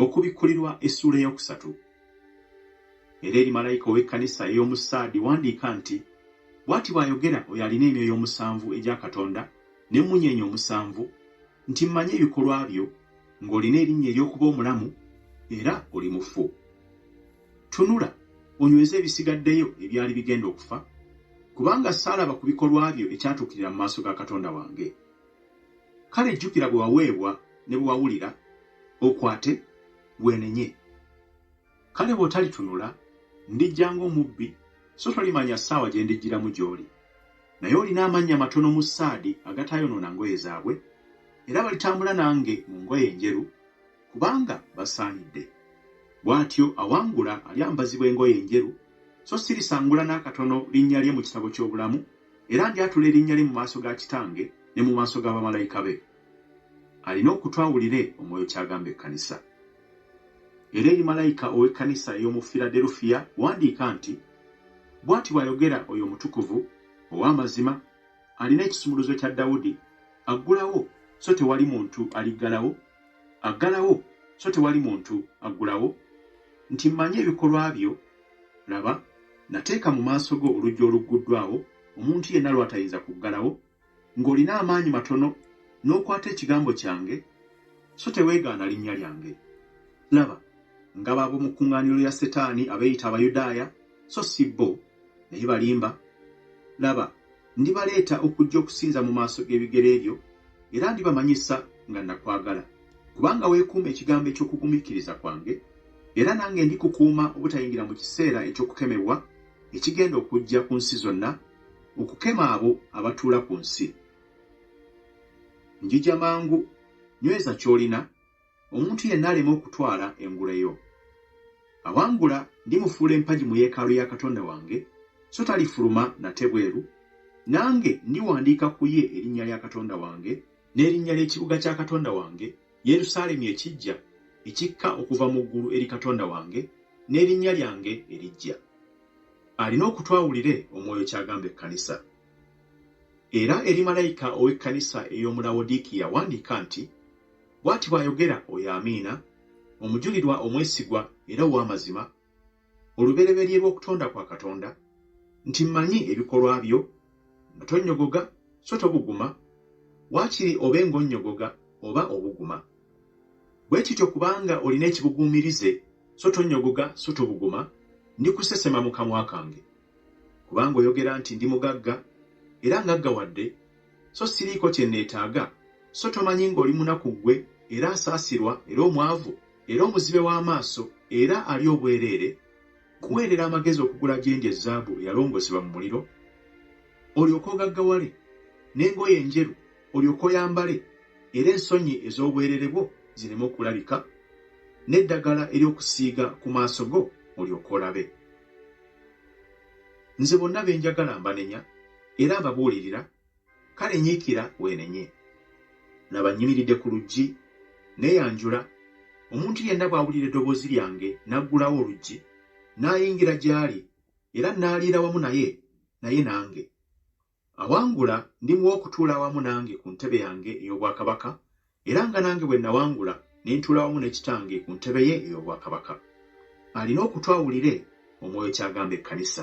okubikkulirwa essuula ey'okusatu era eri malayika ow'ekkanisa ey'omu saadi wandiika nti bw'ati bw'ayogera oyo alina emyoyo omusanvu egya katonda n'emmunyeenye omusanvu nti mmanyi ebikolwa byo ng'olina erinnya ery'okuba omulamu era oli mufu Tunula onyweze ebisigaddeyo ebyali bigenda okufa, kubanga saalaba ku bikolwa byo ekyatuukirira mu maaso ga Katonda wange. Kale jjukira bwe waweebwa ne bwe wawulira, okwate, weenenye. Kale bw'otalitunula, ndijja ng'omubbi, so tolimanya ssaawa gye ndijjiramu gy'oli. Naye olina amannya matono mu ssaadi agataayonoona ngoye zaabwe, era balitambula nange mu ngoye enjeru, kubanga basaanidde. Bw'atyo awangula alyambazibwa engoye enjeru, so si lisangula n'akatono linnya lye mu kitabo ky'obulamu, era ndyatula erinnya lye mu maaso ga Kitange ne mu maaso ga bamalayika be. Alina okutu awulire Omwoyo ky'agamba ekkanisa. Era eri malayika ow'ekkanisa ey'omu Firaderufiya wandiika nti, Bw'ati bw'ayogera oyo Omutukuvu, ow'amazima, alina ekisumuluzo kya Dawudi, aggulawo, so tewali muntu aliggalawo, Aggalawo, so tewali muntu aggulawo, nti mmanyi ebikolwa byo, laba, nateeka mu maaso go oluggi olugguddwawo, omuntu yenna lw'atayinza kuggalawo, ng'olina amaanyi matono, n'okwata ekigambo kyange, so teweegaana linnya lyange. Laba, ngabo ab'omu kkuŋŋaaniro lya Setaani abeeyita Abayudaaya, so si bo, naye balimba. Laba, Ndibaleeta okujja okusinza mu maaso g'ebigere byo, era ndibamanyisa nga nakwagala, kubanga weekuuma ekigambo eky'okugumiikiriza kwange, era nange ndikukuuma obutayingira mu kiseera eky'okukemebwa ekigenda okujja ku nsi zonna, okukema abo abatuula ku nsi. Njija mangu, nyweza ky'olina, Omuntu yenna alema okutwala engule yo. Awangula ndimufuula empagi mu yeekaalu ya Katonda wange, so talifuluma nate bweru. Nange ndiwandiika ku ye erinnya lya Katonda wange n'erinnya ly'ekibuga kya Katonda wange, Yerusaalemi ekiggya ekikka okuva mu ggulu eri Katonda wange, n'erinnya lyange eriggya. Alina okutu awulire Omwoyo ky'agamba ekkanisa. Era eri malayika ow'ekkanisa ey'omu Lawodiikiya wandiika nti. Bw'ati bw'ayogera oyo Amiina, omujulirwa omwesigwa era ow'amazima, olubereberye lw'okutonda kwa Katonda, nti mmanyi ebikolwa byo, nga tonnyogoga so tobuguma, waakiri obe ng'onnyogoga oba obuguma. Bwe kityo kubanga olina ekibuguumirize, so tonnyogoga so tobuguma, ndikusesema mu kamwa kange. Kubanga oyogera nti, Ndi mugagga, era ngaggawadde, so siriiko kye nneetaaga, so tomanyi ng'oli munaku ggwe, era asaasirwa, era omwavu, era omuzibe w'amaaso, era ali obwereere? Nkuweerera amagezi okugula gye ndi ezzaabu eyalongoosebwa mu muliro, olyoke ogaggawale, n'engoye enjeru olyoke oyambale, era ensonyi ez'obwereere bwo zireme okulabika, n'eddagala ery'okusiiga ku maaso go olyoke olabe. Nze bonna be njagala mbanenya era mbabuulirira, kale nyiikira weenenye. Laba nnyimiridde ku luggi neeyanjula, omuntu yenna bw'awulira eddoboozi lyange n'aggulawo oluggi, n'ayingira gy'ali era nnaaliira wamu naye, naye nange. Awangula ndimuwa okutuula awamu nange ku ntebe yange ey'obwakabaka, era nga nange bwe nawangula ne ntuula awamu ne Kitange ku ntebe ye ey'obwakabaka. Alina okutu awulire Omwoyo ky'agamba ekkanisa.